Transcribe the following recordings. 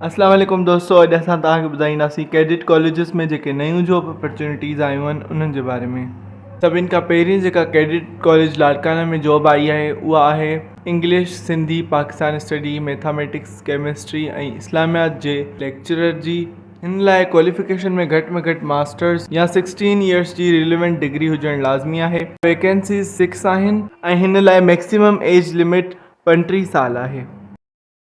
السلام عليڪم دوستو اڄ اسان توهان کي ٻڌائينداسين ڪيڊٽ ڪاليجز ۾ جيڪي نيون جاب اپرچونيٽيز آيون آهن انهن جي باري ۾ سڀني کان پهرين جيڪا ڪيڊٽ ڪاليج لاڙڪانا ۾ جاب آئي آهي اها آهي English Sindhi Pakistan study mathematics chemistry ۽ اسلاميات جي ليڪچرر جي هن لاء ڪواليفڪيشن ۾ گهٽ ۾ گهٽ ماسٽرس يا سڪسٽين يئرس جي ريليونٽ ڊگري هجڻ لازمي آهي ويڪنسيز سڪس آهن ۽ هن لاء ميڪسيمم ايج لمٽ پنٽيهه سال آهي.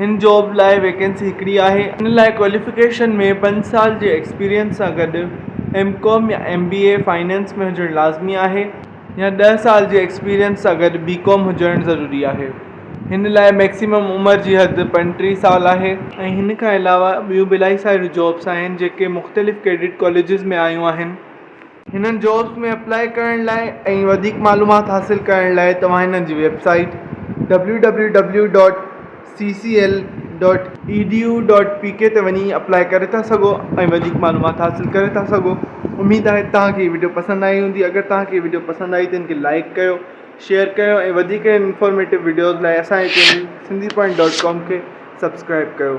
هن جاب لاء ويڪنسي هڪڙي آهي. ان لاء ڪواليفڪيشن ۾ پنج سال جي ايڪسپيرينس سان گڏ ايم ڪام يا ايم بي اي فنانس ۾ هجڻ لازمي آهي يا ڏهه سال جي ايڪسپيرينس سان گڏ بي ڪام هجڻ ضروري آهي. هن لاء ميڪسيمم عمر جي حد پنٽيهه سال آهي. ۽ هن کان علاوه ٻيون به الائي ساريون جابس آهن جيڪي مختلف ڪيڊٽ ڪاليجز ۾ آيون آهن. هنن جابس ۾ اپلاء ڪرڻ لاء ۽ وڌيڪ معلومات حاصل ڪرڻ لاء توهان هنن جي website W W W dot C C L dot E D U dot P K تي وڃي اپلاء ڪري ٿا سگهو ۽ وڌيڪ معلومات حاصل ڪري ٿا سگهو اميد آهي توهان کي هي وڊيو پسند آئي هوندي اگر توهان کي هي وڊيو پسند آئي ته هن کي لائڪ ڪيو شيئر ڪيو ۽ وڌيڪ انفارميٽو وڊيوز لاء اسان جي channel Sindhi point dot com کي سبسڪرائب ڪيو